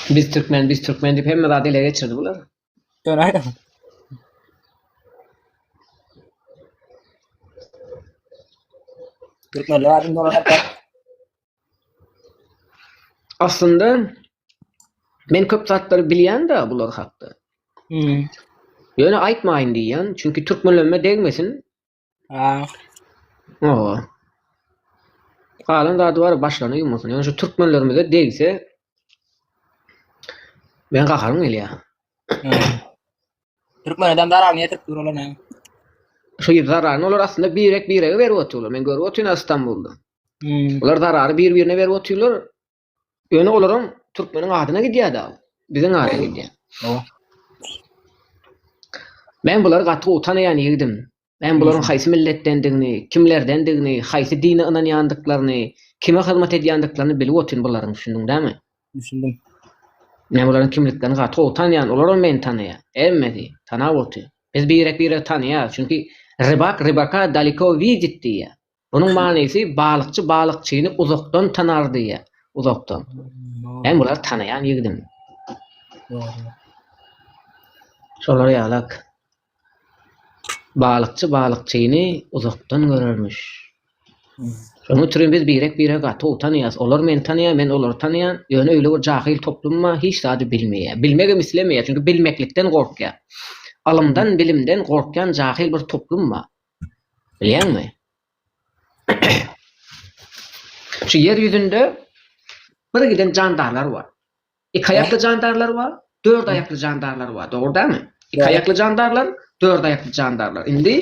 Biz Türkmen, biz Türkmen diýip hemme zady ele geçirdi bular. Ýöne aýdym. Türkmenler aýdym dolan hakda. Aslynda men köp zatlary bilýän-de bular hakda. Hmm. Ýöne aýtmaýyn diýýän, çünki türkmenlenme degmesin. Aa. Oo. Galan zady bar başlaryny ýumasyn. Ýöne şu türkmenlerimize degse Men gaharym gelýär. Türkmen adam zarar niye Türk durulur ne? Şu ýyl zararny olar aslynda birek birege berip oturlar. Men görüp otyryn Istanbulda. Hmm. Olar zarary bir-birine berip otyrlar. Ýöne olaram türkmeniň adyna gidýär-de, biziň ada gidýär. Men bulary gaty gowy tanaýan ýigdim. Men bularyň haýsy milletdendigini, kimlerdendigini, haýsy dine ynanýandyklaryny, kime hyzmat edýändiklaryny bilip otyryn bularyň, düşündiň dämi? Düşündim. Men bularyň kimliklerini gaty gowy tanaýan, olaram meni tanaýar. Hemmesi tanap otyr. Biz birek-biregi tanaýarys, çünki rybak rybaka daleko widit diýýär. Munuň manysy balykçy balykçyny uzakdan tanar diýýär. Uzakdan. Men bulary tanaýan ýigidim. Şolar ýalak. Balykçy balykçyny uzakdan görermiş. Şonuň üçin biz birek-biregi gaty tanaýas. Olar meni tanaýar, men olary tanaýan. Ýöne öýle bir jahyl toplum bar, hiç zady bilmeýär. Bilmegem islemeýär, çünki bilmeklikden gorkýar. Ylymdan, bilimden gorkýan jahyl bir toplum bar. Bilýäňmi? Şu ýer ýüzünde bir giden jandarlar bar. Iki aýakly jandarlar bar, dört aýakly jandarlar bar, dogry dälmi? Iki aýakly jandarlar, dört aýakly jandarlar. Indi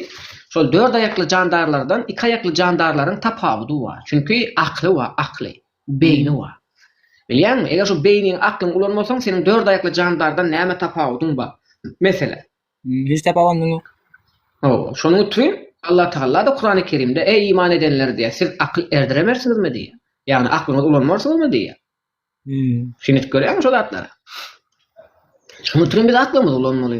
şol dört aýakly jandarlardan iki aýakly jandarlaryň tapawudy bar. Çünki akly bar, akly, beýni bar. Bilýäňmi? Eger şu beýniň, aklyň ulanmasaň, seniň dört aýakly jandardan näme tapawudyň bar? Meselem, Müjde baba muny Hawa, şonuň üçin Allatagalla-da Kurany Kerimde, Eý, iman edenler! diýýär. Siz akyl erdiremersiňizmi? diýýär. Ýagny aklyňyzy ulanmarsyňyzmy? diýýär. Düşünip görýäňmi şu zatlara? Şonuň üçin biz aklymyzy ulanmaly.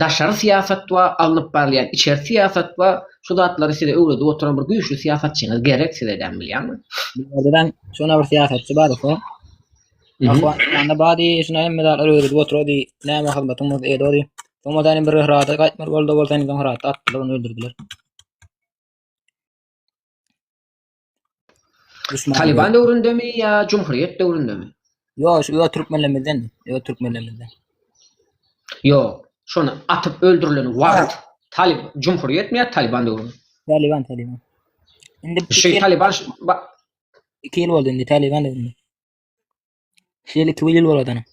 daşary syýasat we alnyp barylýan içeri syýasat we şu zatlary size öwredip oturan bir güýçli syýasatçyňyz gerek siz edem bilýäňmi? Bilýän şuna bir syýasatçy bar ise. Ahwanda bady şuna hem medal öwredip oturady. Näme hyzmatyňyz edýärdi? Soňra da bir rada gaýtmar boldy bolsa indi soňra atdylar ony öldürdiler. Duşman. Taliban döwründemi ýa Cumhuriyet döwründemi? Ýok, şu öňe türkmenlerimizden, öňe türkmenlerimizden. Ýok, şony atyp öldürilen wagt Talib Cumhuriyetmi ýa Taliban döwrümi? Taliban, Taliban. Indi Şu Taliban ş- ba- iki ýyl boldy indi Taliban döwründe. Şeýle iki ýyl boladana.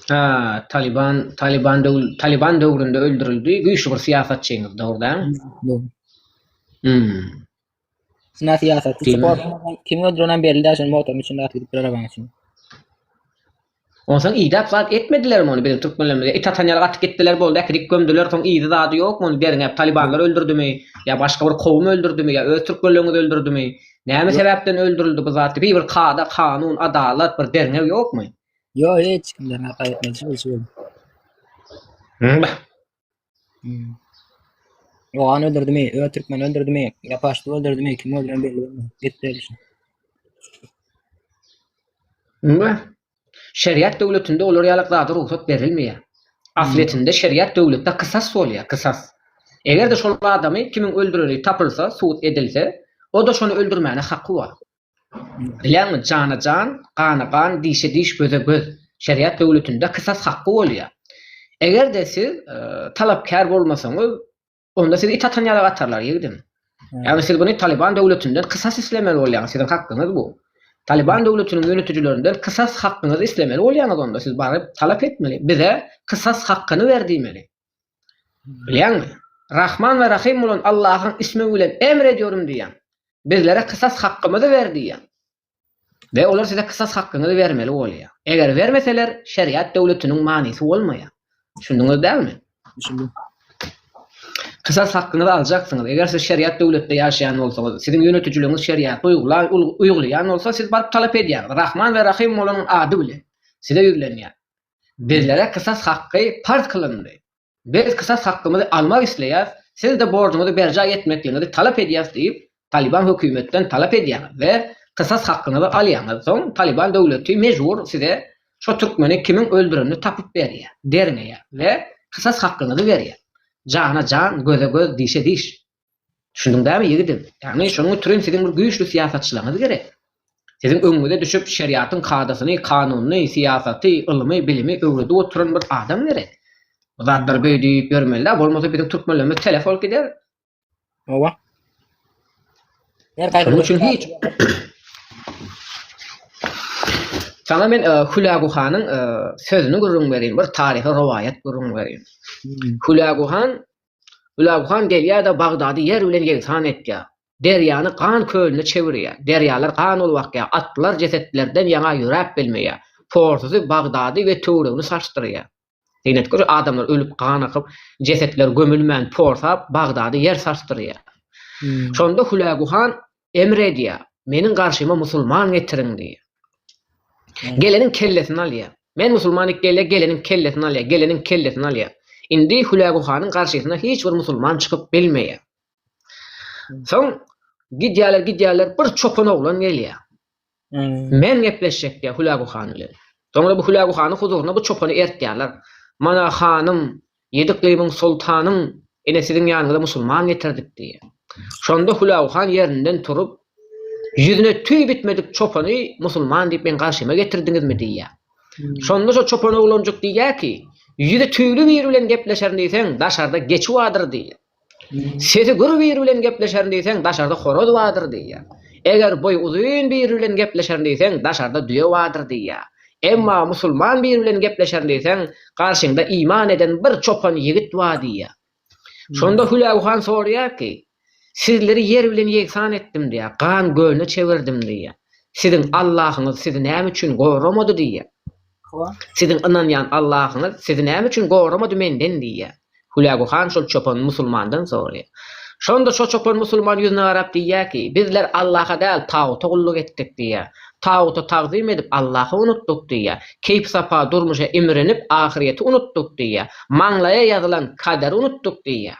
Ha, Taliban, Taliban döwr, Taliban döwründe öldürildi. Güýçli bir syýasatçyňyz dogruda. Hmm. Sina syýasat. Kim öldüren belli däl, şonuň motoryň içinde atyp gidip arabaň içinde. Onsoň idap zat etmediler mi onu biziň türkmenlerimize? It atan ýere gatyp gitdiler boldy, äkidip gömdüler, soň izi zady ýokmy ony derňäp, talibanlar öldürdimi? Ýa başga bir kowum öldürdimi? Ýa öz türkmenleriňiz öldürdimi? Näme sebäpden öldürildi bu zat? Bir bir kada, kanun, adalat, bir derňew ýokmy? Ýok, hiç kimden hata etmedi. Şol şu. Hmm. Oğan öldürdü mi? Ö Türkmen öldürdü mi? Yapaştı öldürdü mi? Kim öldüren belli olmadı. Git de düşün. Hmm. Şeriat döwletinde olar ýalak zada rugsat berilmeýär. Ahletinde şeriat döwletde kysas bolýar, kysas. Eger-de şol adamy kimiň öldüreni tapylsa, subut edilse, o-da şony öldürmäne haky bar. Bilýäňmi, jana jan, gana gan, dişe diş, göze göz. Şeriat döwletinde kysas hakky bolýar. Eger-de siz talapkär bolmasaňyz, Onda sizi it atan ýaly atarlar, ýigdim. Ýagny siz bunu Taliban döwletinden kysas islemeli bolýaňyz, siziň hakgyňyz bu. Taliban döwletiniň ýönetijilerinden kysas hakgyňyzy islemeli bolýaňyz onda, siz baryp talap etmeli, bize kysas hakgyny ber diýmeli. Bilýäňmi? Rahman we Rahym bolan Allahyň ismi bilen emr edýärin diýýän. Bizlere kysas hakgymyzy ber diýýän. we olar size kysas hakkyňyzy bermeli bolýar. Eger bermeseler, şeriat döwletiniň manysy bolmaýar. Düşündiňiz dälmi? Düşündim. Kysas hakkyňyzy aljaksyňyz. Eger siz şeriat döwletde ýaşaýan bolsaňyz, siziň ýönetijiligiňiz şeriaty uýgulaýan, uýgulaýan bolsa, siz baryp talap edýäňiz. Rahman we Rahym bolanyň ady bilen size ýüzlenýär. Bizlere kysas hakky parz kylyndy. Biz kysas hakymyzy almak isleýäris, siz-de borjuňyzy berjaý etmekligiňizi talap edýäris diýip, Talyban hökümetden talap edýäňiz we kysas hakyňyzy alýaňyz, soň Talyban döwleti mejbur size şo türkmeni kimiň öldürenini tapyp berýär, derňeýär we kysas hakyňyzy berýär. Jana jan, göze göz, dişe diş. Düşündiň dämi ýigidim? Ýagny şonuň üçin siziň bir güýçli syýasatçylaňyz gerek. Siziň öňüňize düşüp şeriatyň kadasyny, kanunyny, syýasaty, ylmy, bilimi öwredip oturan bir adam gerek. Bu zatlar göýä düýüp ýörmelidä, bolmasa biziň türkmenlerimiz telef bolup gider. Hawa. Şonuň üçin hiç Saňa men e, Hülagu hanyň e, sözüni gürrüň berin, bir taryhy rowaýat gürrüň berin. Hmm. Hülagu han Gülab han gelýär-de Bagdady ýer bilen ýegsan etýär. Derýany gan kölüne çevirýär. Derýalar gan bolup akýar. Atlylar jesetlerden ýaňa ýöräp bilmeýär. Porsy Bagdady we töweregini sarsdyrýar. Synetge şu adamlar ölüp gan akyp, jesetler gömülmän porsap Bagdady ýer sarsdyrýar. Şonda Hülägu han emr edýär, Meniň garşyma musulman getiriň diýýär. Geleniň kellesini alýar. Men musulman diýip gelýär, geleniň kellesini alýar, geleniň kellesini alýar. Indi Hülägu hanyň garşysyna hiç bir musulman çykyp bilmeýär. Soň gidýärler, gidýärler, bir çopan oglan gelýär. Men gepleşjekdä Hülägu han bilen. Soňra bu Hülägu hanyň huzuryna bu çopany ertýärler. Mana, hanym, ýedi yklymyň soltanyň ine siziň ýanyňyza musulman getirdik diýýär. Şonda Hülägu han ýerinden turup, ýüzüne tüý bitmedik çopany musulman diýip meň garşyma getirdiňizmi diýýär. Şonda şo çopan oglanjyk diýýär ki, ýüzi tüýli biri bilen gepleşerin diýseň daşarda geçi bardyr diýýär. Sesi gür biri bilen gepleşerin diýseň, daşarda horaz bardyr diýýär. Eger boýy uzyn biri bilen gepleşerin diýseň, daşarda düýe bardyr diýýär. Emma musulman biri bilen gepleşerin diýseň, garşyňda iman eden bir çopan ýigit bar diýýär. Şonda Hülägu han soraýar ki, Sizleri ýer bilen ýegsan etdim diýýär, gan gölüne çevirdim diýýär. Siziň Allahyňyz sizi näme üçin goramady diýýär. Siziň ynanýan Allahyňyz sizi näme üçin goramady menden? diýýär. Hülägu han şol çopan musulmandan soraýar. Şonda şo çopan musulman ýüzüne garap diýýär ki, Bizler Allaha däl, taguta gulluk etdik diýýär. Taguta tagzym edip, Allahy unutdyk diýýär. Keýp-sapa durmuşa imrinip, ahyrýeti unutdyk diýýär. Maňlaýa ýazylan kaderi unutdyk diýýär.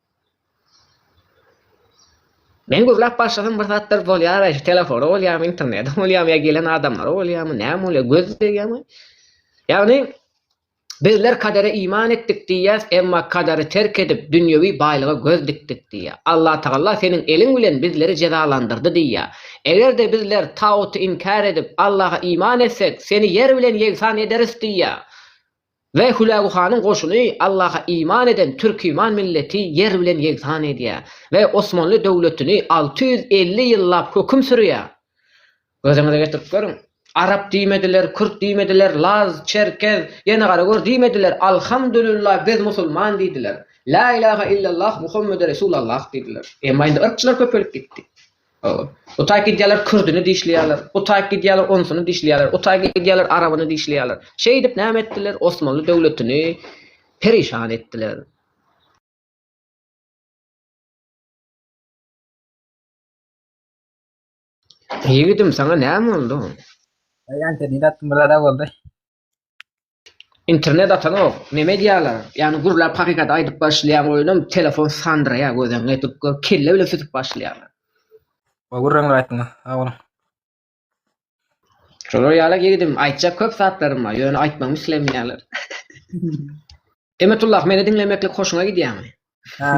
Men gürläp başlasam bir zatlar bolýar-aý, şu telefona bolýarmy, internete bolýarmy ýa gelen adamlara bolýarmy, näme bolýar, göz degýärmi? Ýagny, Bizler kadere iman etdik diýýäs, emma kadary terk edip, dünýewi baýlyga göz dikdik diýýär. Allatagalla seniň eliň bilen bizleri jezalandyrdy diýýär. Eger-de bizler taguty inkär edip, Allaha iman etsek, seni ýer bilen ýegsan ederis diýýär. We Hülägu hanyň goşuny Allaha iman eden türkiman milleti ýer bilen ýegsan edýär we Osmanly döwletini alty ýüz elli ýyllap höküm sürýär. Gözüňize getirip görüň. Arap diýmediler, kürt diýmediler, laz, çerkez, ýene gara gör diýmediler, Alhamdulillah biz musulman diýdiler. Lä ilaha illallah Muhammede Resulallah diýdiler. Emma indi yrkçylar köpelip gitdi. Utaýyp gidýärler, kürdüni dişleýärler. Utaýyp gidýärler, onsuny dişleýärler. Utaýyp gidýärler, arabyny dişleýärler. Şeýdip näme etdiler? Osmanly döwletini perişan etdiler. Ýigidim, saňa näme boldy? Ýaňky diýdi, atym bir zada boldy. Internet atanok, neme edýäler? Ýagny gürläp hakykaty aýdyp başlaýan oýunam telefon sandyraýar gözeňňe edip gör kelle bile sütüp başlaýarlar. Gowy gürrüňler aýtdyňyz. Sag boluň. Şolar ýaly ýigidim aýtjak köp zatlarym bar ýöne aýtmagymy islemeýärler. Emetullah meni diňlemeklik hoşuňa gidýärmi? Hä.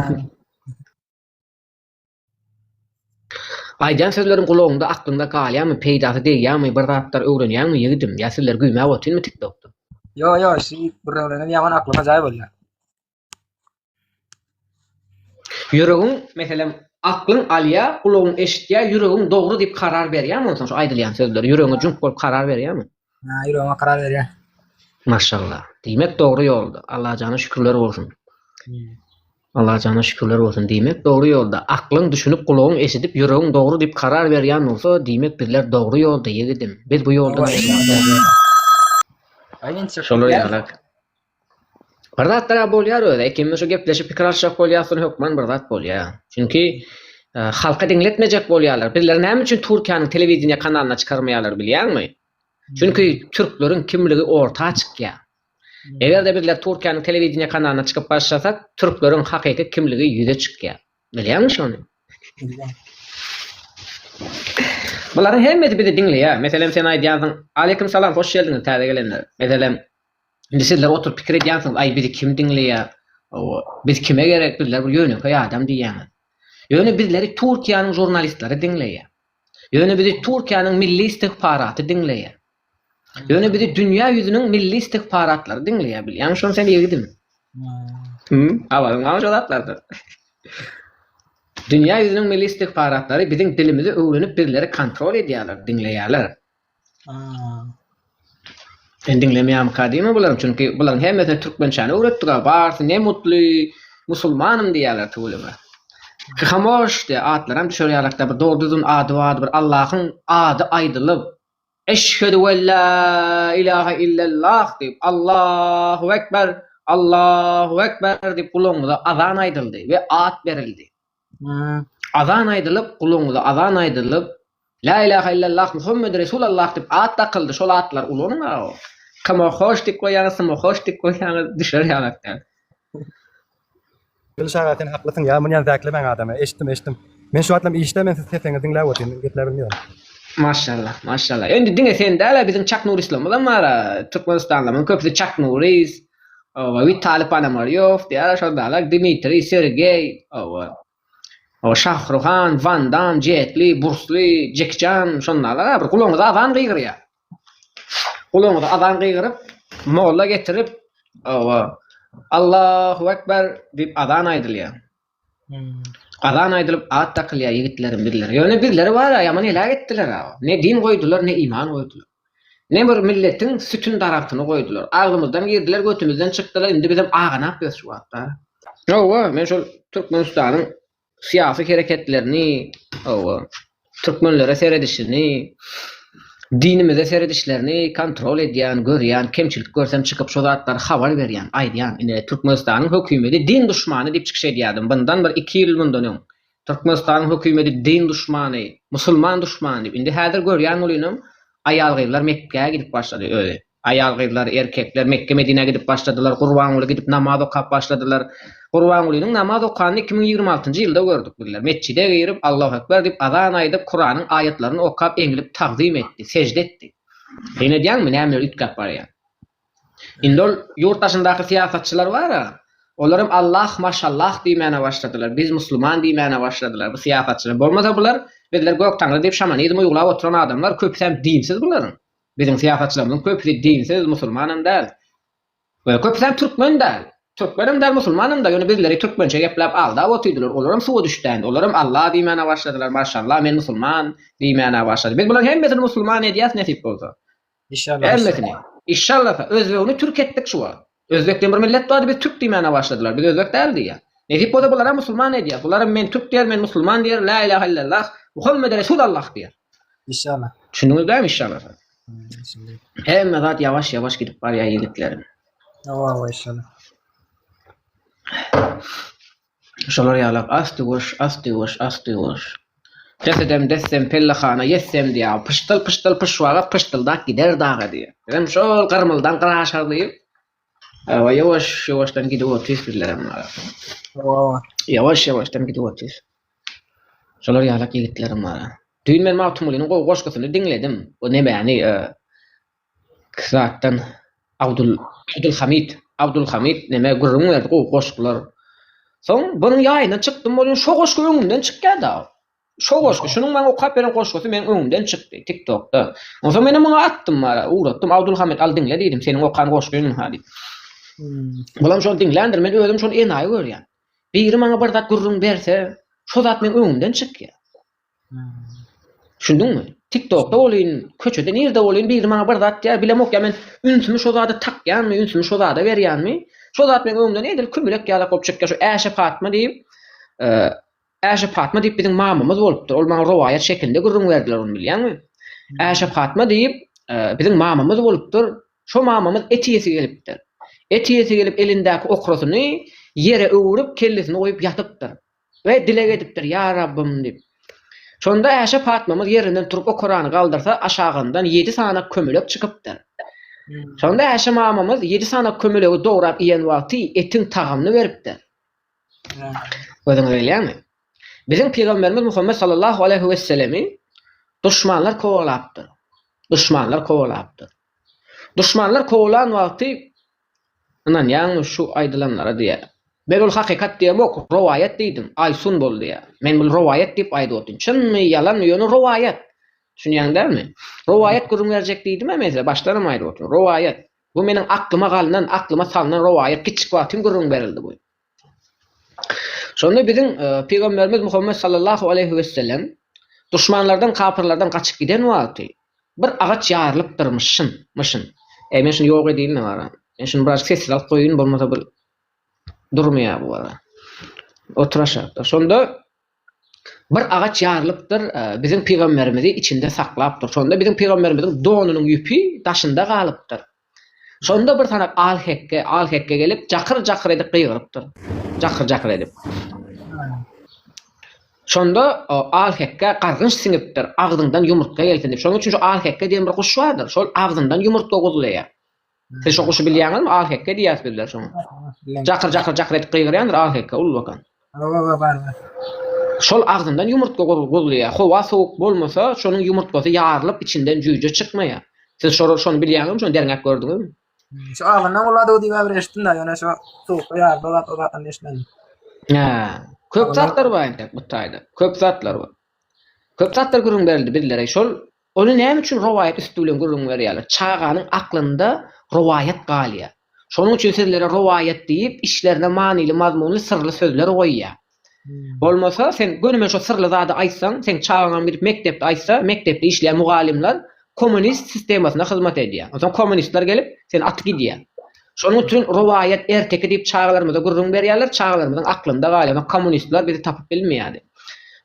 Aýdýan sözleriň gulagyňda aklyňda galýamy peýdasy degýämi bir zatlar öwrenýäňmi ýigidim ýa sözleri güýmäp otynmy tik tokda. Ýok ýok şu it birreglenem ýaman aklyma jaý bolýar. Ýüregiň meselem aklyň alýa gulagyň eşitýä ýüregiň dogry diýip karar berýämi onsoň şu aýdylýan sözleri ýüregiňe jüňk bolup karar berýämi. Haa ýüregime karar berýän. Maşallah. Diýmek dogry ýolda. Allajana şükürler bolsun. Allajana şükürler bolsun. Diýmek dogry ýolda. Aklyň düşünip gulagyň eşidip ýüregiň dogry diýip karar berýän bolsa diýmek bizler dogry ýolda ýigidim. Biz bu ýoldan aýrylmazok. Aýýinçak. Şolar ýalak. Bir zatlar-a bolýar özi, ikimiz şu gepleşip pikir alyşjak bolýas diýen hökman bir zat bolýar. Çünki halka diňletmejek bolýarlar. Bizleri näme üçin Türkiýäniň telewideniýe kanalyna çykarmaýarlar bilýäňmi? Çünki türkleriň kimligi orta çykýar. Eger-de bizler Türkiýäniň telewideniýe kanalyna çykyp başlasak, türkleriň hakyky kimligi ýüze çykýar. Bilýäňmi şony? Bularyň hemmesi bizi diňleýär. Meselem, sen aýdýarsyň, Aleýkum salam, hoş geldiňiz täze gelenler. Meselem, Indi sizler oturyp pikir edýänsiňiz, aý bizi kim diňleýär, biz kime gerek, bizler bir ýönekeý adam diýýäňiz. Ýöne bizleri Türkiýäniň žurnalistleri diňleýär. Ýöne bizi Türkiýäniň milli istigparaty diňleýär. Ýöne bizi dünýä ýüzüniň milli istigparatlary diňleýär, bilýäňmi şony sen ýigidim? Hum, habaryň barmy şo zatlardan? Dünýä ýüzüniň milli istigparatlary biziň dilimizi öwrenip bizleri kontrol edýärler, diňleýärler. Sen diňlemeýärmikä diýme bular, çünki bularyň hemmesine türkmençäni öwretdiga, barysy ne mutly musulmanym diýýärler tüweleme. Kamoş diýýär, atlaram düşer ýalakda bir dogry düzgün ady bardy bir Allahyň ady aýdylyp, Eşhedü wella ilahe illallah diýip, Allahu ekber, Allahu ekber diýip gulagyňyza azan aýdyldy we at berildi. Azan aýdylyp, gulagyňyza azan aýdylyp, Lä ilaha illallah, Muhammed resul Allah diýip at dakyldy, şol atlary ulanyň aga. Kime hoş diýip goýýaňyz, kime hoş diýip goýýaňyz, düşer ýaňak däl. Gylyç aga sen haklysyň ýa munýan zäklemäň adamy eşitdim eşitdim men şu wagtlam işde men siz seseňizi diňläp otyryn gepläbilmiyorum. Maşallah maşallah endi diňe sen däl-ä biziň Çak Nury islamyzam bar-a türkmenistanlylaryň köpüsi Çak Nury Oba Witali Ponomarýow diýýärler şondalar, Dmitriý, Sergeý, oba. O Şahruhan, Wan Dam, Jetli, Bursli, Jeki Çan şondalar a bir gulagyňyza azan gygyrýar. Gulagyňyza azan gygyryp, molla getirip, oba. Allahu ekber diýip azan aýdylýar. Azan aýdylyp at dakylýar ýigitleriň birleri. Ýöne birleri bar-a, ýaman heläk etdiler-ä. Ne din goýdular, ne iman goýdular. Ne bir milletiň sütün daragtyny goýdular. Agzymyzdan girdiler, götümizden çykdylar, indi bizem aganap ýörüs şu wagtda. Hawa, men şol Türkmenistanyň syýasy hereketlerini, hawa, Türkmenlere seredişini, dinimize seredişlerini kontrol edýän, görýän, kemçilik görsem çykyp şo zatlary habar berýän, aýdýan. Ine Türkmenistanyň hökümeti din duşmany diýip çykyş edýärdim. Bundan bir iki ýyl mundan öň Türkmenistanyň hökümeti din duşmany, musulman duşmany diýip. Indi häzir görýän bolynam aýal-gyzlar Mekgä gidip başlady özi. Aýal-gyzlar, erkekler Mekge-Medinä gidip başladylar. Gurbanguly gidip namaz okap başladylar. Gurbangulynyň namaz okanyny iki müň ýigrimi altynjy ýylda gördük bizler. Metjide girip, Allahu ekber diýip azan aýdyp, Kuranyň aýatlaryny okap eňilip tagzym etdi, sežde etdi. Syn edýäňmi, nämeler üýtgäp barýar? Indi ol ýurt daşyndaky syýasatçylar bar-a, olaram Allah, maşallah diýmäne başladylar, biz musulman diýmäne başladylar bu syýasatçylar. Bolmasa bular, bizler Göktaňry diýip şamanizm uýgulap oturan adamlar, köpüsem dinsiz bularyň. Biziň syýasatçylarymyzyň köpüsi dinsiz, musulmanam däl. Ýöne köpüsem türkmen däl. Türkmenem däl, musulmanam-da, ýöne bizleri türkmençe gepläp aldap otyrdylar. Olaram suwa düşdändir. Olaram Allah diýmän-ä başladylar. Maşşallah, men musulman diýmän-ä başlady. Biz bularyň hemmesini musulman edýäs nesip bolsa. Hemmesini. Işşallasa. Özbegini türk etdik şu wagt. Özbek diýen bir millet bardy, biz türk diýmäne başladylar, biz özbek däl diýýär. Nesip bolsa bularam musulman edýär. Bularam men türk diýer, men musulman diýer, lä ilahe illallah, Muhammede resul Allah diýer. Işşala. Düşündiňiz bämi işşala sen? Düşündim. Hemme zat ýawaş ýawaş gidip barýar ýigitlerim. Hawa hawa işşala. Şolar ýalak asty-guş, asty-guş, asty-guş. Des edem, dessem, pellehana ýetsem diýýär. Pyşdyl, pyşdyl, pyş wagt pyşdyldap gider daga diýýär. Bizem şol gyrmyldan gyra aşar diýip, hawa, ýowaş-ýowaşdan gidip otyrys bizlerem. Hawa. Ýowaş-ýowaşdan gidip otyrys. Şolar ýalak ýigitlerem bar. Düýn men Magtymgulynyň gowy goşgusyny diňledim. O nemäni, Kysratdan Abdul Abdulhamid Abdulhamid neme gürrüň berdi gowy goşgular. Soň bunuň ýaýyndan çykdym bolýan şo goşgy öňümden çykýa dagy. Şo goşgy şunuň maňa okap beren goşgusy meniň öňümden çykdy tiktokda. Onsoň menem muňa atdym bara ugratdym Abdulhamid al diňle diýdim seniň okan goşgyňmy ha diýip. Bulam şony diňländir men özüm şony enaýy görýän. Biri maňa bir zat gürrüň berse şo zat meň öňümden çykýa. Düşündiňmi? Tiktokda bolyn, köçede nirde bolyn biri maňa bir zat diýýär, bilemok ýa men ünsümi şo zada takýanmy, ünsümi şo zada berýänmi, şo zat meň öňümden edil kümülek ýalak bolup çykýar, şu Äşe Patma diýip, Äşe Patma diýip biziň mamamyz bolupdyr, ol maňa rowaýat şekilinde gürrüň berdiler ony bilýäňmi? Äşe Patma diýip, biziň mamamyz bolupdyr, şo mamamyz et iýesi gelipdir. Et iýesi gelip elindäki okrasyny ýere öwürip kellesini goýup ýatypdyr. we dileg edipdir, Ýa Rabbym! diýip. Şonda Äşe Patmamyz ýerinden turup okarany galdyrsa, aşagyndan ýedi sany kömelek çykypdyr. Şonda Äşe mamamyz ýedi sany kömelegi dograp iýen wagty etiň tagamyny beripdir. Gözüňiz gelýärmi? Biziň Pygamberimiz Muhammet sallallahu aleýhi wesselemi duşmanlar kowalapdyr. Duşmanlar kowalapdyr. Duşmanlar kowalan wagty Ynanýaňmy şu aýdylanlara diýýä. Men ol hakykat diýemok, rowaýat diýdim. Aýsun bol diýýä. Men bul rowaýat diýip aýdyp otyryn. Çynmy, ýalanmy, ýöne rowaýat. Düşünýäň dälmi? Rowaýat gürrüň berjek diýdim-ä men size, başdanam aýdyp otyryn. Rowaýat. Bu meniň aklyma galynan, aklyma salnan rowaýat. Kiçjik wagtym gürrüň berildi bu. Şonda biziň Pygamberimiz Muhammet sallallahu aleýhi wesellem duşmanlardan, kapyrlardan gaçyp giden wagty bir agaç ýarylypdyrmyş, şyn, myşyn. Eý, men şuny ýok edeýin-de wara. Men şuny birazajyk sessiz alyp goýaýyn, bolmasa bu durmaýar bu wara. Oturaşak-da. Şonda bir agaç ýarylypdyr, biziň Pygamberimizi içinde saklapdyr. Şonda biziň Pygamberimiziň donunyň ýüpi daşynda galypdyr. Şonda bir sanak al-hekge, al-hekge gelip, jakyr-jakyr edip gygyrypdyr. Jakyr-jakyr edip. Şonda al-hekge gargynç siňipdir, agzyňdan ýumurtga gelsin diýip. Şonuň üçin şu al-hekge diýen bir guş bardyr. Şol agzyndan ýumurtga guzlaýar. Siz şo guşy bilýäňizmi? Al-hekge diýýäris bizler şoňa. Jakyr-jakyr-jakyr edip gygyrýandyr al-hekge, ullakan. Hawa barbar. Şol agzyndan ýumurtga gozulýar. Howa sowuk bolmasa, şonuň ýumurtgasy ýarylyp içinden jüýje çykmaýar. Siz şo şony bilýäňizmi, şony derňäp gördüňizmi? Şu agzyndan goladygy diýip äbir eşitdim-de, ýöne şo sowukda ýarylyp o zat o zatdan eşitmedim. Hä. Köp zatlar bar entek bu taýda. Köp zatlar bar. Köp zatlar gürrüň berildi bizlere. Şol Ony näme üçin rowaýat üsti bilen gürrüň berýärler? Çaganyň aklynda rowaýat galýar. Şonuň üçin sizlere rowaýat diýip, içlerine manyly-mazmunly syrly sözler goýýar. Bolmasa, sen gönüme şo syrly zady aýtsaň, seň çagaňam gidip mekdepde aýtsa, mekdepde işleýän mugallymlar kommunist sistemasyna hyzmat edýär. Onsoň kommunistler gelip, seni atyp gidýär. Şonuň üçin rowaýat erteki diýip çagalarymyza gürrüň berýärler, çagalarymyzyň aklynda galýar, kommunistler bizi tapyp bilmeýärdi.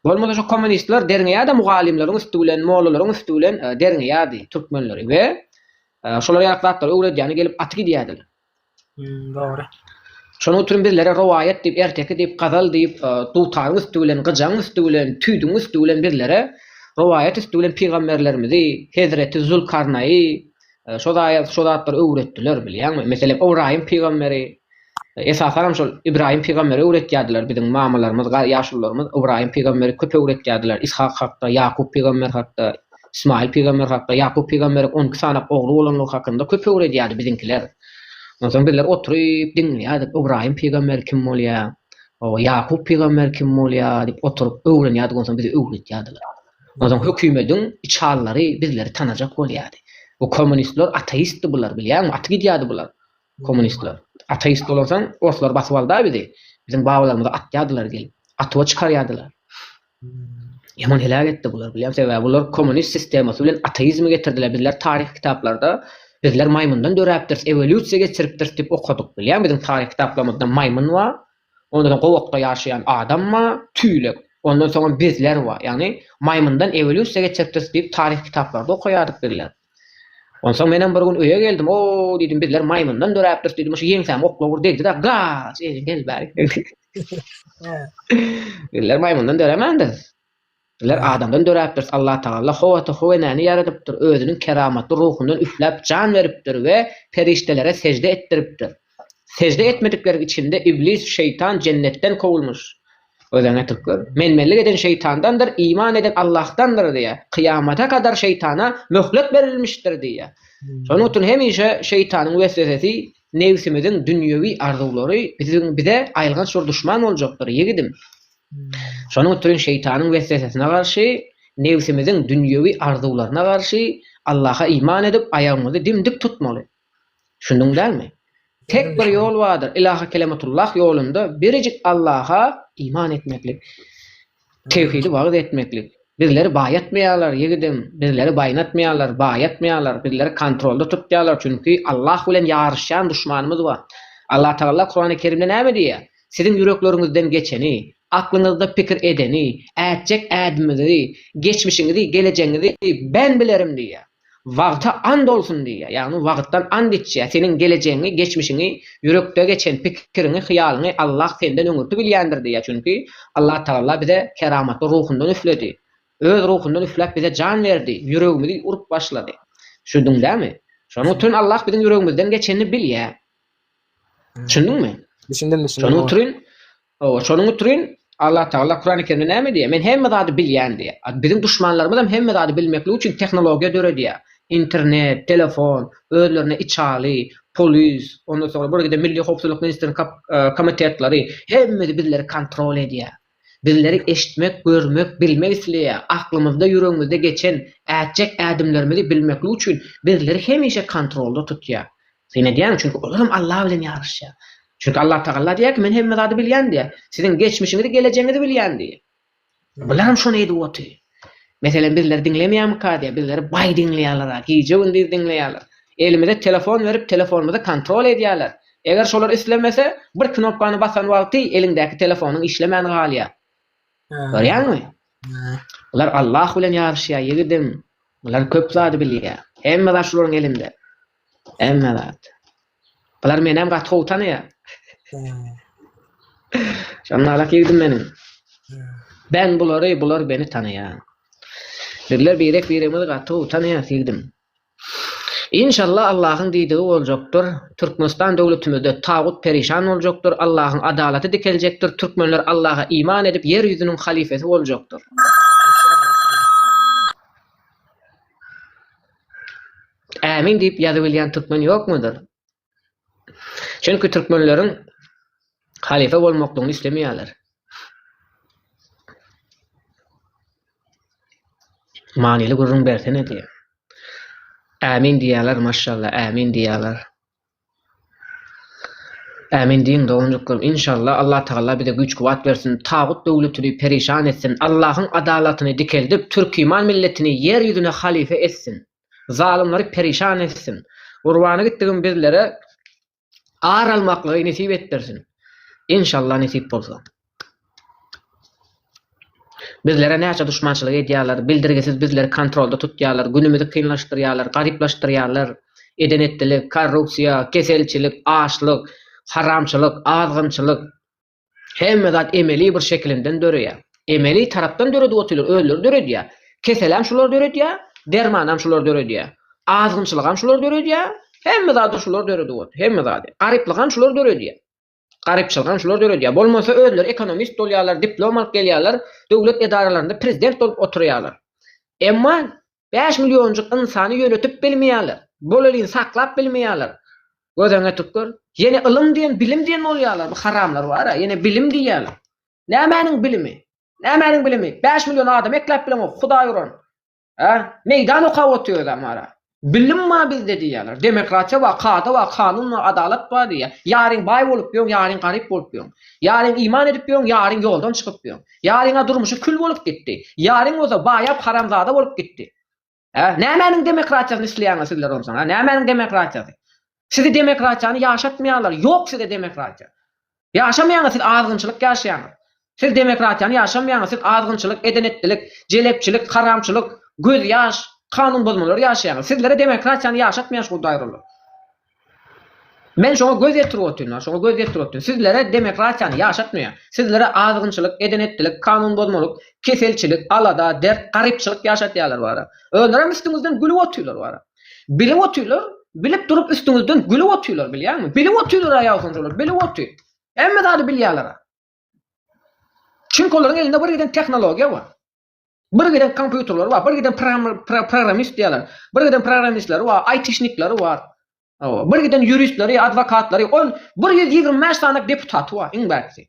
Bolmasa şu kommunistler derňeýärdi mugallymlaryň üsti bilen, mollalaryň üsti bilen derňeýärdi türkmenleri we şolar ýaly zatlary öwredýäne gelip aty gidýärdiler. Dogry. Şonuň üçin bizlere rowaýat diýip, erteki diýip, gazal diýip, dutaryň üsti bilen, gyjaň üsti bilen, tüýdüň üsti bilen bizlere rowaýat üsti bilen pygamberlerimizi, hezreti Zülkarnaýy, Şo zaýat, şo zatlary öwretdiler, bilýäňmi? Meselem, Ybraýym pygamberi, esasan hem şol Ybraýym pygamberi öwretýärdiler biziň mamalarymyz, ýaşulularymyz Ybraýym pygamberi köp öwretýärdiler, Yshak hakda, Ýakup pygamber hakda, Ysmaýyl pygamber hakda, Ýakup pygamberiň on iki sany ogly bolandygy hakynda köp öwredýärdi biziňkiler. Onsoň bizler oturyp diňleýärdik, Ybraýym pygamber kim bolýar? Ýakup pygamber kim bolýar? diýip oturyp öwrenýärdik, onsoň bize öwretýärdiler. Ozan hökümediň içallary bizleri tanajak bolýady. Bu kommunistler ateistdi bular bilýäňmi aty gidýädi bular kommunistler. Ateist bolansoň orslar basyp alda bizi. Biziň babalarymyzy atýadylar gelip. Atuwa çykarýadylar. Ýaman heläk etdi bular bilýäňmi sebäbi bular kommunist sistemasy bilen ateizmi getirdiler bizler taryh kitaplarda bizler maýmyndan döräpdiris ewolýusiýa geçiripdiris diýip okadyk bilýäňmi biziň taryh kitaplarymyzda maýmyn bar Ondan soň gowakda ýaşaýan adam bar, tüýlek. Ondan soňam bizler bar. Ýagny maýmyndan ewolýusiýa geçipdiris diýip taryh kitaplarda okaýardyk bizler. Onsoň menem bir gün öýe geldim, o diýdim bizler maýmyndan döräpdiris diýdim, şu ýeňsäme oklaw bir degdi-de, gaç, eli gel bärik. Bizler maýmyndan döremändiris. Bizler adamdan döräpdiris, Allah Tagala howata howenäni ýaradypdyr, özüniň keramatly ruhundan üfläp jan beripdir we perişdelere sežde etdiripdir. Sežde etmedikleriň içinde Iblis, şeýtan, jennetden kowulmyş. Özüň etip gör. Menmenlik eden şeýtandandyr, iman eden Allahdandyr diýýär. Kyýamata kadar şeýtana möhlet berilmişdir diýýär. Şonuň üçin hemişe şeýtanyň weswesesi, nebsimiziň dünýewi arzuwlary biziň bize aýylganç bir duşman boljakdyr, ýigidim. Şonuň üçin şeýtanyň weswesesine garşy, nebsimiziň dünýewi arzuwlaryna garşy Allaha iman edip, aýagymyzy dim-dik tutmaly. Düşündiň dälmi? Tek bir ýol bardyr, Ilaha kelematullah ýolunda birjik Allaha iman etmeklik, tewhidi wagyz etmeklik. Bizleri baýatmaýarlar, ýigidem, bizleri baýnatmaýarlar, baýatmaýarlar, bizleri kontrolda tutýarlar, çünki Allah bilen ýaryşýan duşmanymyz bar. Allatagala Kurany Kerimde näme diýýär? Siziň ýürekleriňizden geçeni, aklyňyzda pikir edeni, ätjek ädimiňizi, geçmişiňizi, gelejegiňizi ben bilerim diýýär. Wagta and olsun diýýär. Ýagny wagtdan and içýär. Seniň gelejegiňi, geçmişiňi, ýürekde geçen pikiriňi, hyýalyňy Allah senden öňürti bilýändir diýýär. Çünki Allatagala bize keramatly ruhundan üfledi. Öz ruhundan üfläp bize jan berdi, ýüregimizi urup başlady. Şuduň dämi? Şonuň üçin Allah biziň ýüregimizden geçenini bilýär. Düşündiňmi? Düşündim, düşündim. Şonuň üçin, owa, şonuň üçin Allah Tagala Kurany Kerimde näme diýýär? Men hemme zady bilýän diýýär. Biziň duşmanlarymyz hem hemme zady bilmeklik üçin tehnologiýa döredýär. Internet, telefon, özlerine içaly, polis, ondan soňra birgide Milli howpsuzlyk ministriniň komitetleri hemmesi bizleri kontrol edýär. Bizleri eşitmek, görmek, bilmek isleýär. Aklymyzda, ýüregimizde geçen, ätjek ädimlerimizi bilmeklik üçin bizleri hemişe kontrolda tutýar. Syn edýärmi? Çünki olar hem Allah bilen ýaryşýar. Çünki Allatagalla diýýär ki, Men hemme zady bilýän diýýär. Siziň geçmişiňizi, gelejegiňizi bilýän diýýär. Bular hem şony edip otyr. Meselem bizleri diňlemeýärmika diýýär, bizleri baý diňleýärler-a, gije-gündiz diňleýärler. Elimize telefon berip, telefonymyzy kontrol edýärler. Eger şolar islemese, bir knopkany basan wagty eliňdäki telefonyň işlemän galýar. Görýäňmi? Bular Allah bilen ýaryşýar, ýigidim. Bular köp zady bilýär. Hemme zat şolaryň elinde. Hemme zat. Bular menem gaty gowy tanaýar. Şonalak ýigdim meniň. Ben bulary, bular beni tanaýar. Bizler birek biremizi gaty gowy tanaýas ýigdim. Inşallah Allahyň diýdigi boljakdyr. Türkmenistan döwletimizde tagut perişan boljakdyr, Allahyň adalaty dikeljekdir, türkmenler Allaha iman edip ýer ýüzüniň halyfesi boljakdyr. Ämin diýip ýazybilýän türkmen ýokmudyr? Çünki türkmenleriň halypa bolmaklygyny islemeýärler. Manyly gürrüň bersene diýen. Ämin diýýärler maşşalla ämin diýýärler. Ämin diýiň doganjyklarim inşallah Allah tagalla bize güýç kuwat bersin tagut döwletini perişan etsin Allahyň adalatyny dikeldip türkiman milletini ýer ýüzüne halyfa etsin zalymlary perişan etsin gurbany gitdigim bizlere ar almaklygy nesip etdirsin inşallah nesip bolsa. Bizlere näçe duşmançylyk edýärler, bildirgisiz bizleri kontrolda tutýarlar, günümizi kynlaşdyrýarlar, garyplaşdyrýarlar. Eden-etdilik, korrupsiýa, keselçilik, açlyk, haramçylyk, azgynçylyk, hemme zat emeli bir şekilinden döreýär. Emeli tarapdan döredip otyrlar, özleri döredýär. Keseläm şular döredýär, dermanam şular döredýär. Azgynçylygam şular döredýär, hemme zady şular döredip otyr, hemme zady. Garyplygam şular döredýär. Garypçylygam şular döredýär. Bolmasa özleri ekonomist bolýarlar, diplom alyp gelýärler, döwlet edaralarynda prezident bolup oturýarlar. Emma bäş millionjyk ynsany ýönetip bilmeýärler. Bolelin saklap bilmeýärler. Gözüňe ýetip gör. Ýene ylym diýen, bilim diýen bolýarlar. Bu haramlar bar-a, ýene bilim diýýärler. Nämäniň bilimi? Nämäniň bilimi? Bäş million adam ekläp bileňok, hudaý uran. Hä? Meýdan okap otyrys amara. Bilim bar bizde diýýärler. Demokratiýa bar, kada bar, kanun bar, adalat bar diýýär. Ýaryn baý bolup ýörüň, ýaryn garyp bolup ýörüň. Ýaryn iman edip ýörüň, ýaryn ýoldan çykyp ýörüň. Ýaryň-a durmuşy kül bolup gitdi. Ýaryn bolsa baýap haramzada bolup gitdi. Hä? Nämäniň demokratiýasyny isleýäňiz sizler onsoň, hä? Nämäniň demokratiýasy? Sizi demokratiýany ýaşatmaýarlar. Ýok sizde demokratiýa. Ýaşamaýaňyz siz azgynçylyk ýaşaýaňyz. Siz demokratiýany ýaşamaýaňyz siz azgynçylyk, edenetdilik, jelepçilik, haramçylyk, gözýaş, kanun bozmalary ýaşaýaňyz. Sizlere demokratiýany ýaşatmaýan şu daýrylar. Men şoňa göz ýetirip otyryn, şoňa göz ýetirip otyryn. Sizlere demokratiýany ýaşatmaýan, sizlere azgynçylyk, edenetdilik, kanun bozmalyk, keselçilik, alada, dert, garypçylyk ýaşatýarlar wara. Özlerem üstüňizden gülüp otyrlar wara. Bilip otyrlar, bilip durup üstüňizden gülüp otyrlar bilýäňmi? Bilip otyrlar-a ýaýsanjalar, bilip otyr. Hemme zady bilýärler-a. Çünki olaryň elinde bir giden tehnologiýa bar. Bir giden kompýuterleri bar, bir giden programmist diýýärler. Bir giden programmistleri bar, aýtişnikleri bar. Hawa, bir giden ýuristleri, adwokatlary, on bir ýüz ýigrimi bäş sany deputaty bar, iň bärkisi.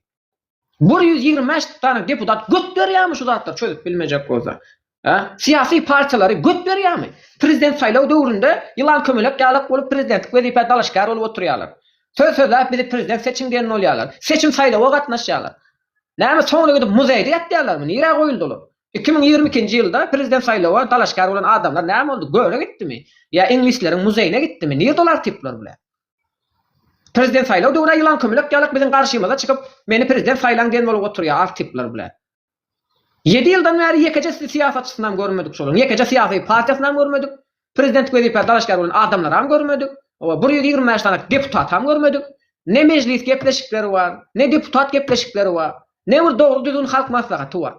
Bir ýüz ýigrimi bäş sany deputat göt berýärmi şu zatlary çözüp bilmejek bolsa? Hä? Syýasy partiýalary göt berýärmi? Prezident saýlaw döwründe ýylan kömelek ýalak bolup prezidentlik wezipä dalaşgär bolup oturýarlar. Söz sözläp bizi prezident seçiň diýen bolýarlar. Seçim saýlawa gatnaşýarlar. Näme soňra gidip muzeýde ýatýarlarmy? Nirä goýuldy olar? Iki müň ýigrimi ikinji ýylda prezident saýlawa dalaşgär bolan adamlar näme boldy? Göle gitdimi? Ýa iňlisleriň muzeýine gitdimi? Nirde olar tipler bile? Prezident saýlaw döwüra ýylan kömelek ýalak biziň garşymyza çykyp meni prezident saýlaň diýen bolup oturýa ar tipler bile. Ýedi ýyldan bäri ýekeje syýasatçysynam görmedik şolaryň ýekeje syýasy partiýasynam görmedik prezidentlik wezipä dalaşgär bolan adamlaram görmedik oba bir ýüz ýigrimi bäş sany deputatam görmedik ne mejlis gepleşikleri bar ne deputat gepleşikleri bar ne bir dogry düzgün halk maslahaty bar.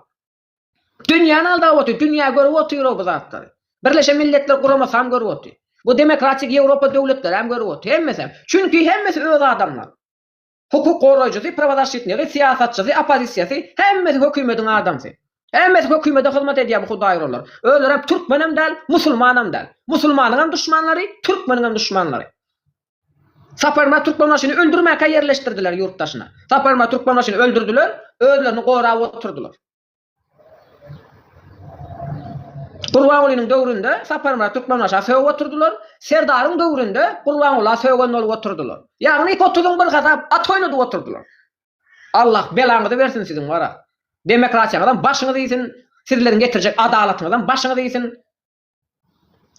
Dünýäni aldap otyr, dünýä görüp otyr-ow bu zatlary. Birleşen Milletler Guramasam görüp otyr. Bu demokratik Ýewropa döwletleräm görüp otyr, hemmesem. Çünki hemmesi öz adamlar. Hukuk goraýjysy, prawozaşşitnigi, syýasatçysy, oppozisiýasy, hemmesi hökümediň adamsy. Hemmesi hökümede hyzmat edýär bu hudaýyrolar. Özlerem türkmenem däl, musulmanam däl. Musulmanyňam duşmanlary, türkmeniňem duşmanlary. Saparmyrat Türkmenbaşyny öldürmäkä ýerleşdirdiler ýurt daşyna. Saparmyrat Türkmenbaşyny öldürdiler, özlerini gorap oturdylar. Gurbangulynyň döwründe Saparmyrat Türkmenbaşa sögüp oturdylar, Serdaryň döwründe Gurbangula sögen bolup oturdylar. Ýagny iki otuzyň bir hasap at oýnadyp oturdylar. Allah belaňyzy bersin siziň wara. Demokratiýaňyzam başyňyz iýsin, sizleriň getirjek adalatyňyzam başyňyz iýsin.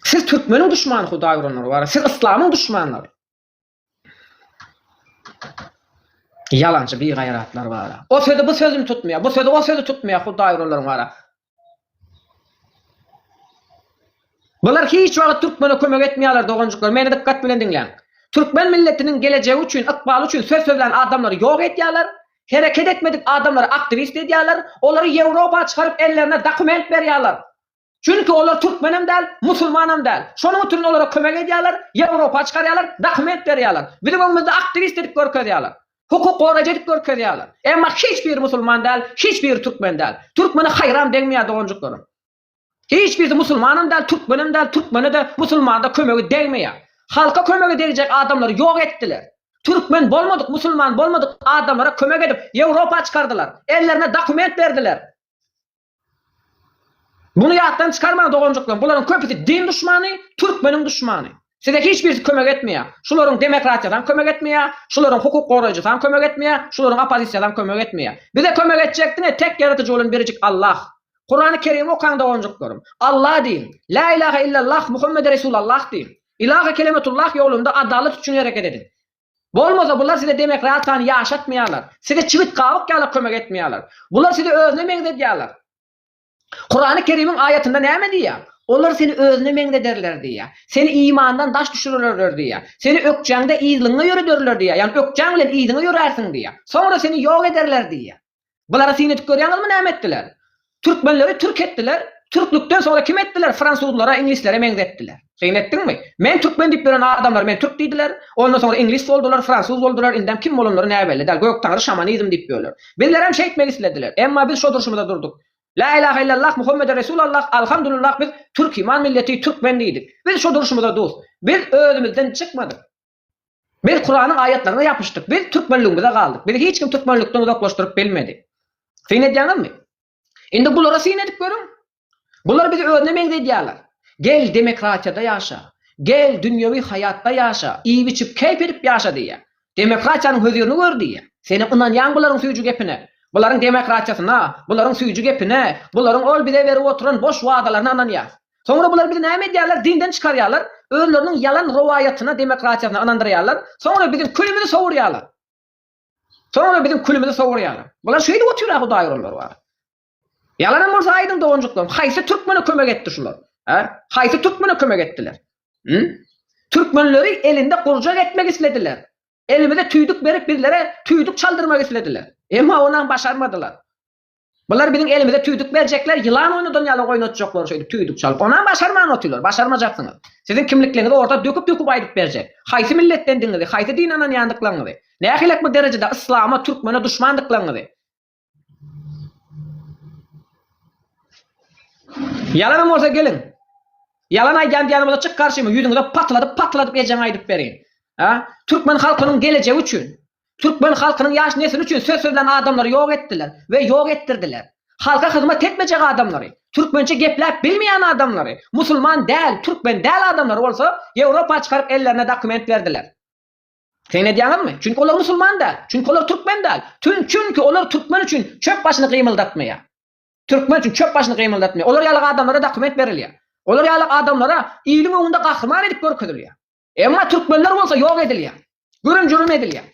Siz türkmeniň duşmany hudaý uranlar bar. Siz yslamyň duşmanlary. Ýalançy bir gaýratlar bar. O sözi bu sözüni tutmaýar. Bu sözi o sözi tutmaýar hudaý uranlar bar. Bular hiç wagt türkmene kömek etmeýärler doganjyklar. Meni dikkat bilen diňläň. Türkmen milletiniň gelejegi üçin, ykbaly üçin söz sözlän adamlary ýok edýärler. Hereket etmedik adamlary aktiwist edýärler. Olary Ýewropa çykaryp ellerine dokument berýärler. Çünki olar türkmenem däl, musulmanam däl. Şonuň üçin olara kömek edýärler, Ýewropa çykarýarlar, dokument berýärler. Biziň öňümizde aktiwist edip görkezýärler. Hukuk goraýjy edip görkezýärler. Emma hiç biri musulman däl, hiç biri türkmen däl. Türkmene haýran degmeýär doganjyklarym. Hiç birisi musulmanam däl, türkmenem däl, türkmene-de, musulmana-da kömegi degmeýär. Halka kömegi degjek adamlary ýok etdiler. Türkmen bolmadyk, musulman bolmadyk adamlara kömek edip Ýewropa çykardylar. Ellerine dokument berdiler. Muny ýatdan çykarmaň doganjyklaryň bularyň köpüsi din duşmany, türkmeniň duşmany. Size hiç birisi kömek etmeýär. Şularyň demokratiýasaň kömek etmeýär, şularyň hukuk goraýjysaň kömek etmeýär, şularyň oppozisiýasaň kömek etmeýär. Bize kömek etjek diňe tek ýaradyjy bolan birjik Allah. Kurany Kerimi okaň doganjyklarym. Allah diýiň. Lä ilahe illallah Muhammede Resulallah diýiň. Ilahe kelemetullah ýolunda adalat üçin hereket ediň. Bolmasa bular size demokratiýany ýaşatmaýarlar. Size çibit gawuk ýala kömek etmeýärler. Bular sizi özüne meňzedýärler. Kurany Kerimiň aýatynda näme diýýär? Olar seni özüne meňzederler diýýär. Seni imandan daş düşürerler diýýär. Seni ökjäňde yzlyňňa ýörederler diýýär. Ýagny ökjäň bilen yzyňa ýörärsiň diýýär. Soňra seni ýok ederler diýýär. Bulara syn edip görýäňizmi näme etdiler? Türkmenleri türk etdiler, türklükden soňra kim etdiler fransuzlara, iňlislere meňzetdiler. Syn etdiňmi? Men türkmen diýip ýören adamlar men türk diýdiler, ondan soňra iňlis boldular, fransuz boldular, indem kim bolanlary näbelli däl, göktaňry şamanizm diýip ýörler. Bizlerem şeýtmek islediler, emma biz şo durşumyza durduk. Lä ilahe illallah Muhammede resul Allah, alhamdulillah biz türkiman milleti, türkmen diýdik. Biz şo durşumyza dus. Biz özümizden çykmadyk. Biz Kuranyň aýatlaryna ýapyşdyk, biz türkmenligimize galdyk, bizi hiç kim türkmenlikden uzaklaşdyryp bilmedi. Syn edýäňizmi? Indi bulara syn edip görüň. Bular bizi özüne meňzedýärler. Gel, demokratiýada ýaşa. Gel, dünýewi haýatda ýaşa, iýip-içip, keýp edip ýaşa diýýär. Demokratiýanyň hözirini gör diýýär. Senem ynanýaň bularyň süýji gepine. Bularyň demokratiýasyna, bularyň süýji gepine, bularyň ol bize berip oturan boş wadalaryna ynanýas. Soňra bular bizi näme edýärler, dinden çykarýarlar, özleriniň ýalan rowaýatyna, demokratiýasyna ynandyrýarlar, soňra biziň külümizi sowurýarlar. Soňra biziň külümizi sowurýarlar. Bular şeýdip otyr-a Hudaý uranlar bar. Ýalanam bolsa aýdyň doganjyklarym, haýsy türkmene kömek etdi şular? Hä? Haýsy türkmene kömek etdiler? Hü? Türkmenleri elinde gurjak etmek islediler. Elimize tüýdük berip bizlere tüýdük çaldyrmak islediler. Emma onam başarmadylar. Bular biziň elimize tüýdük berjekler, ýylan oýnadan ýaly oýnatjaklar şeýdip tüýdük çalyp. Onam başarman otylar, başarmajaksyňyz. Siziň kimlikliňizi orta döküp-döküp aýdyp berjek. Haýsy milletdendigiňizi, haýsy dine ynanýandyklaryňyzy, nähilek bir derejede yslama, türkmene duşmandyklaryňyzy. Ýalanam bolsa geliň. Ýalan aýdýan diýýän bolsa çyk garşyma, ýüzüňize patladyp-patladyp ejeňe aýdyp berin. A? Türkmen halkynyň gelejegi üçin, Türkmen halkynyň ýaş nesli üçin söz sözlän adamlary ýok etdiler we ýok etdirdiler. Halka hyzmat etmejek adamlary, türkmençe gepläp bilmeýän adamlary, musulman däl, türkmen däl adamlary bolsa Ýewropa çykaryp ellerine dokument berdiler. Seň edýäňizmi? Çünki olar musulman däl, çünki olar türkmen däl, tün çünki olar türkmen üçin çöp başyny gymyldatmaýar. Türkmen üçin çöp başyny gymyldatmaýar. Olar ýaly adamlara dokument berilýär. Olar ýaly adamlara iliň öňünde gahryman edip görkezilýär. Emma türkmenler bolsa ýok edilýär. Gürüm-jürüm edilýär.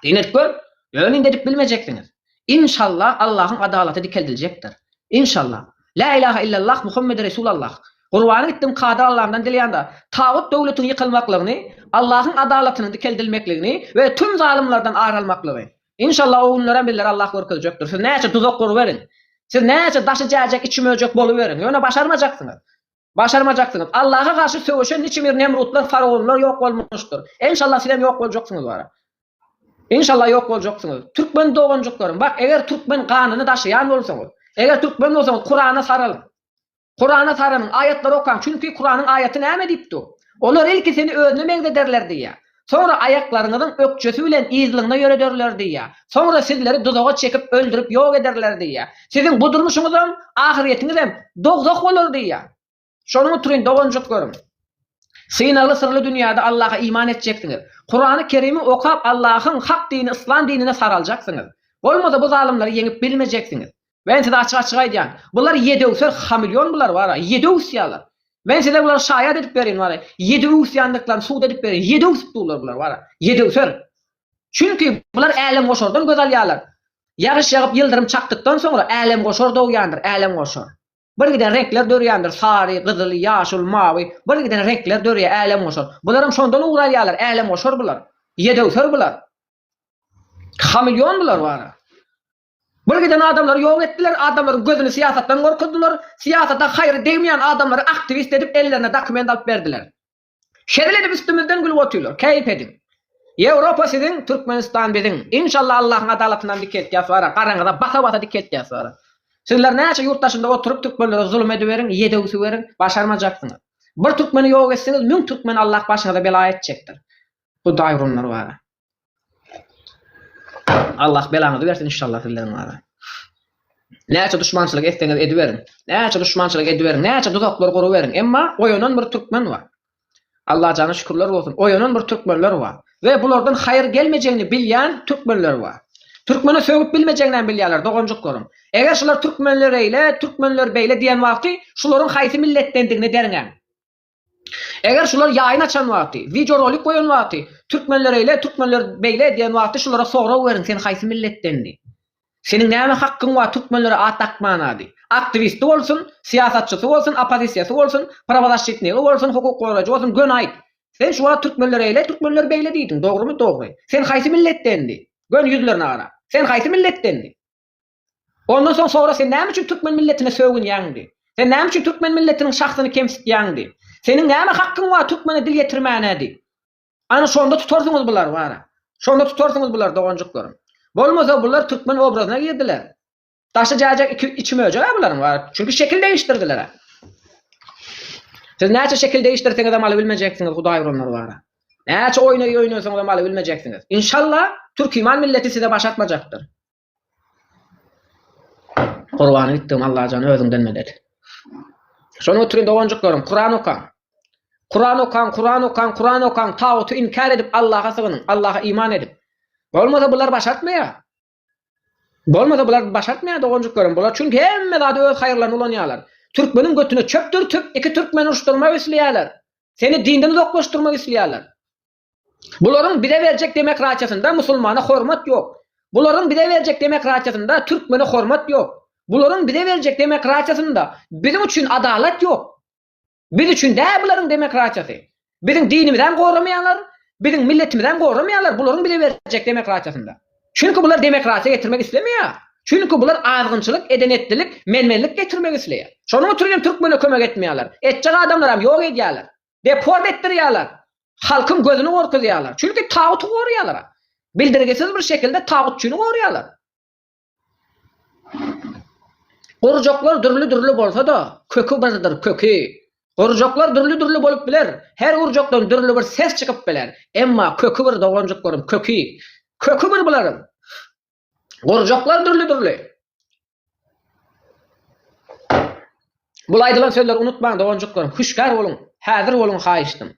Diýmek gör, ýöne indi edip bilmejeksiňiz. Inşalla Allahyň adalaty dikeldiljekdir. Inşalla. Lä ilaha illallah Muhammedi Resulallah. Gurbany gitdim Kadyr Allamdan dileýän-da, tagut döwletiň ýykylmaklygyny, Allahyň adalatynyň dikeldilmekligini we tüm zalymlardan ar almaklygy. Inşalla o günlerem bizlere Allah görkezjekdir. Siz näçe duzak guruberiň. Siz näçe daşy jäjek içi möjek boluberiň. Ýöne başarmajaksyňyz. Başarmajaksyňyz. Allaha garşy söweşen niçimir nemrutlar faraonlar ýok bolmuşdyr. Enşallah sizem ýok boljaksyňyz wara. Enşallah ýok boljaksyňyz. Türkmen doganjyklarym bak eger türkmen ganyny daşaýan bolsaňyz. Eger türkmen bolsaňyz kurana saralyň. Kurana saranyň aýatlary okaň çünki kuranyň aýaty näme diýip dur. Olar ilki seni özüne meňzederler diýýär. Soňra aýaklaryňyzyň ökjesi bilen yzlygyna ýörederler diýýär. Soňra sizleri duzaga çekip, öldürip ýok ederler diýýär. Siziň bu durmuşyňyzam, ahyretiňizem dowzah bolar diýýär. Şonuň utrin, doganjyklaryň, synagly syrly dünýäde Allaha iman etjeksiňiz. Kurany Kerimi okap Allahyň hak dini yslam dinine saraljaksyňyz. Bolmasa bu zalymlary ýeňip bilmejeksiňiz. Men size açyk-açyk aýdýan. Bular ýedöwser hameleon bular bara, ýedi öwüsýärler. Men size bulary şaýat edip berin bara, ýedi öwüsýändiklaryny subut edip berin, ýedi öwsüp durlar bular bara, ýedöwser. Çünki bular älemgoşardan göz alýarlar. Ýagyş ýagyp ýyldyrym çakdykdan soňra älemgoşar dogýandyr, älemgoşar. Birgiden reňkler dörýändir, sary, gyzyl, ýaşyl, mawy, birgiden reňkler dörýär, älemgoşar. Bularam şondan ugur alýarlar, älemgoşar bular. Ýedöwser bular. Hameleon bular bara. Bul giden adamlary ýok etdiler, adamlaryň gözüni syýasatdan gorkuzdylar, syýasata haýry degmeýän adamlary aktiwist edip ellerine dokument alyp berdiler. Şezil edip üstümizden gülüp otyrlar. Keýp ediň. Ýewropa siziň, Türkmenistan biziň. Inşallah Allahyň adalatyndan dikeltýäs wara, garaňyza basa-basa dikeltýäs wara. Sizler näçe ýurt daşynda oturyp türkmenlere zulum ediberiň, ýedew süweriň, başarmajaksyňyz. Bir türkmeni ýok etsiňiz, müň türkmeni Allah başyňyza bela etjekdir. Hudaý urunlar wara. Allah belaňyzy bersin inşallah sizleriň ara. Näçe duşmançylyk etseňiz ediberiň. Näçe duşmançylyk ediberiň, näçe duzaklar guruberiň, emma oýanan bir türkmen bar. Allah jana şükürler bolsun. Oýanan bir türkmenler bar. We bulardan haýyr gelmejegini bilýän türkmenler bar. Türkmeni sögüp bilmejegini hem bilýärler doganjyklaryň. Eger şular türkmenler eýle, türkmenler beýle diýen wagty şularyň haýsy milletdendigini derňäň. Eger şular ýaýyn açan wagty, wideo rolik goýan wagty, türkmenler eýle, türkmenler beýle diýen wagty şulara sorag beriň sen haýsy milletdendi? Seniň näme hakkyň bar türkmenlere at dakmanady? Aktiwisti bolsun, syýasatçysy bolsun, oppozisiýasy bolsun, prawozaşşitnigi bolsun, hukuk gorajy bolsun, göni aýt. Sen şu wagt türkmenler eýle, türkmenler beýle diýdiň, dogrymy? Dogry. Sen haýsy milletdendi? Göni ýüzlerine gara. Sen haýsy milletdendi? Ondan soň sora sen näme üçin türkmen milletine sögünýäň diý. Sen näme üçin türkmen milletiniň şahsyny kemsitýäň diý. Seniň näme hakkyň bar türkmene dil ýetirmäne diý. Ana şonda tutarsyňyz bulary bara. Şonda tutarsyňyz bulary doganjyklarym. Bolmasa bular türkmen obrazyna girdiler. Daşy jäjek iki içi möjek-ä bularyň bara. Çünki şekil degişdirdiler-ä. Siz näçe şekil degişdirseňizem aly bilmejeksiňiz hudaý uranlar bara. Näçe oýna oýnasaňyzam aly bilmejeksiňiz. Inşallah türkiman milleti size baş atmajakdyr. Gurbany gitdim Allajan özüňden medet. Şony oturyň doganjyklaryň Kuran okaň. Kuran okaň, Kuran okaň, Kuran okaň, taguty inkär edip Allaha sygynyň, Allaha iman edip. Bolmasa bular başartmaýar. Bolmasa bular başartmaýar doganjyklaryň. Bular çünki hemme zady öz haýyrlaryna ulanýarlar. Türkmeniň götüne çöp dürtüp, iki türkmeni uruşdyrmak isleýärler. Seni dinden uzaklaşdyrmak isleýärler. Bularyň bize berjek demokratiýasynda musulmana hormat ýok. Bularyň bize berjek demokratiýasynda türkmene hormat ýok. Bularyň bize berjek demokratiýasynda biziň üçin adalat ýok. Biz üçin däl bularyň demokratiýasy. Biziň dinimizem goramaýarlar, biziň milletimizem goramaýarlar bularyň bize berjek demokratiýasynda. Çünki bular demokratiýa getirmek islemeýär. Çünki bular azgynçylyk, edenetlilik, menmenlik getirmek isleýär. Şonuň üçin hem türkmene kömek etmeýärler. Etjek adamlaram ýok edýärler. deport etdirýärler, halkyň gözüni gorkuzýarlar. Çünki taguty gorýarlar. Bildirgisiz bir şekilde tagutçyny gorýarlar. Gurjaklar dürli-dürli bolsa-da, köki birdir, köki. Gurjaklar dürli-dürli bolup biler, her gurjakdan dürli bir ses çykyp biler, emma köki bir doganjyklaryň, köki. Köki bir bularyň. Gurjaklar dürli-dürli. Bul aýdylan sözleri unutmaň doganjyklarym, hüşgär boluň, häzir boluň haýyştym.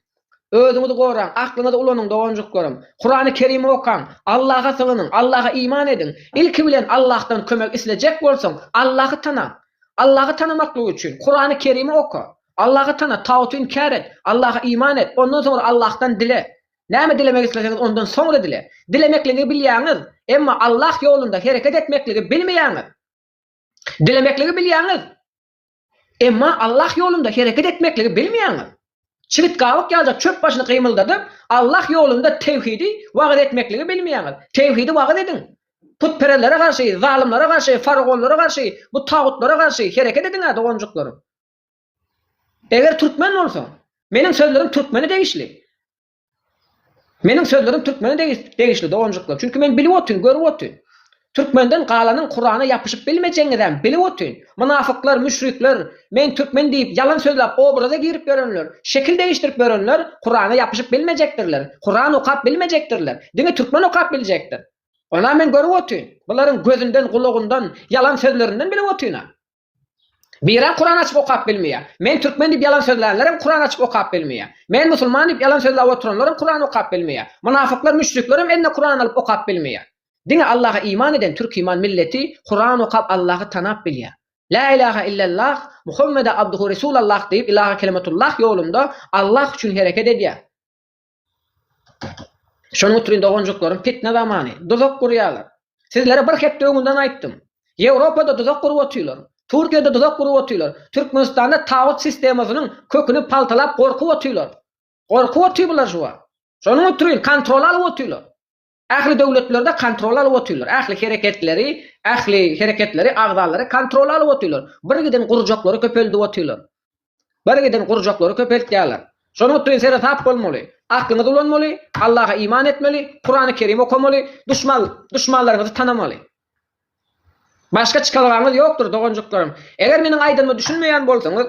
Özüňizi goraň, aklyňyzy ulanyň doganjyklarym. Kurany Kerimi okaň, Allaha sygynyň, Allaha iman ediň. Ilki bilen Allahdan kömek islejek bolsaň, Allahy tanaň. Allahy tanamaklyk üçin Kurany Kerimi oka. Allahy tana, taguty inkär et, Allaha iman et, ondan soňra Allahdan dile. Näme dilemek isleseňiz ondan soňra dile. Dilemekligi bilýäňiz, emma Allah ýolunda hereket etmekligi bilmeýäňiz. Dilemekligi bilýäňiz, emma Allah ýolunda hereket etmekligi bilmeýäňiz. Çigit gabyk ýaljak çöp başyny gymyldadyp, Allah ýolunda tewhidi wagyz etmekligi bilmeýäňiz. Tewhidi wagyz ediň. Putperezlere garşy, zalymlara garşy, faragonlara garşy, bu tagutlara garşy hereket ediň-ä doganjyklarym. Eger türkmen bolsa, meniň sözlerim türkmene degişli. Meniň sözlerim türkmene degişli doganjyklar. Çünki men bilip otyryn, görüp otyryn. Türkmenden galanyň Kurana ýapyşyp bilmejegiňizem bilip otyryn. Mynafyklar, müşrikler, men türkmen diýip ýalan sözläp obraza girip ýörenler, şekil degişdirip ýörenler Kurana ýapyşyp bilmejekdirler, Kuran okap bilmejekdirler. Diňe türkmen okap biljekdir. Onam men görüp otyryn. Bularyň gözünden, gulagyndan, ýalan sözlerinden bilip otyryn-a. Birem Kuran açyp okap bilmeýär. Men türkmen diýip ýalan sözlänlerem Kuran açyp okap bilmeýär. Men musulman diýip ýalan sözläp oturanlaram Kuran okap bilmeýär. Mynafyklar, müşriklerem eline Kuran alyp okap bilmeýär. Diňe Allaha iman eden türkiman milleti Kuran okap Allahy tanap bilýär. Lä ilaha illallah Muhammede abduhu resul Allah diýip ilaha kelimatullah ýolunda Allah üçin hereket edýär. Şonuň üçin doganjyklarym pitne zamany duzak gurýarlar. Sizlere bir hepde öňünden aýtdym. Ýewropada duzak gurup otyrlar. Türkiýede duzak gurup otyrlar. Türkmenistanda tagut sistemasynyň köküni paltalap gorkup otyrlar. Gorkup otyr bular şu wagt. Şonuň üçin kontrol alyp otyrlar. Ähli döwletlerde kontrol alyp otyrlar. Ähli hereketleri, ähli hereketleri, agzalary kontrola alyp otyrlar. Birgiden gurjaklary köpeldip otyrlar. Birgiden gurjaklary köpeltýärler. Şonuň üçin seresap bolmaly. Aklyňyzy ulanmaly, Allaha iman etmeli, Kurany Kerim okamaly, duşman, duşmanlaryňyzy tanamaly. Başga çykalgaňyz ýokdur, doganjyklarym. Eger meniň aýdanyma düşünmeýän bolsaňyz,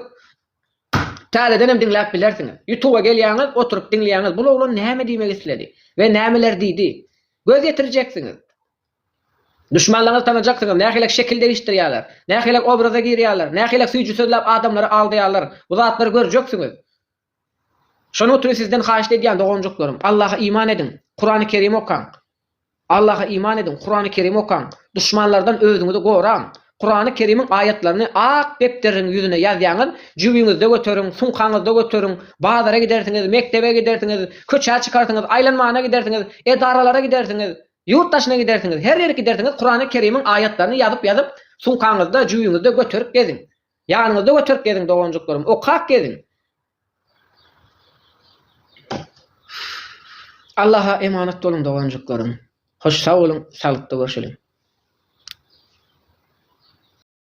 täzedenem diňläp bilersiňiz. Ýutuba gelýäňiz, oturyp diňleýäňiz, bul oglan näme diýmek isledi we nämeler diýdi. Göz ýetirjeksiňiz. Duşmanlaňyzy tanajaksyňyz, nähilek şekil degişdirýärler, nähilek obraza girýärler, nähilek süýji sözläp adamlary aldaýarlar, bu zatlary görjeksiňiz. Şonuň üçin sizden haýyşt edýän doganjyklarym, Allaha iman ediň, Kurany Kerim okaň. Allaha iman ediň, Kurany Kerim okaň, duşmanlardan özüňizi goraň. Kurany Kerimiň aýatlaryny ak depderiň ýüzüne ýazýaňyz, jübiňizde göteriň, sumkaňyzda göteriň, bazara gidersiňiz, mekdebe gidersiňiz, köçä çykarsyňyz, aýlanmana gidersiňiz, edaralara gidersiňiz, ýurt daşyna gidersiňiz, her ýere gidersiňiz Kurany Kerimiň aýatlaryny ýazyp-ýazyp, sumkaňyzda, jübiňizde göterip geziň. Ýanyňyzda göterip geziň doganjyklarym okap geziň. Allaha emanat boluň doganjyklarym. Hoş sag boluň saglyklda görşeliň.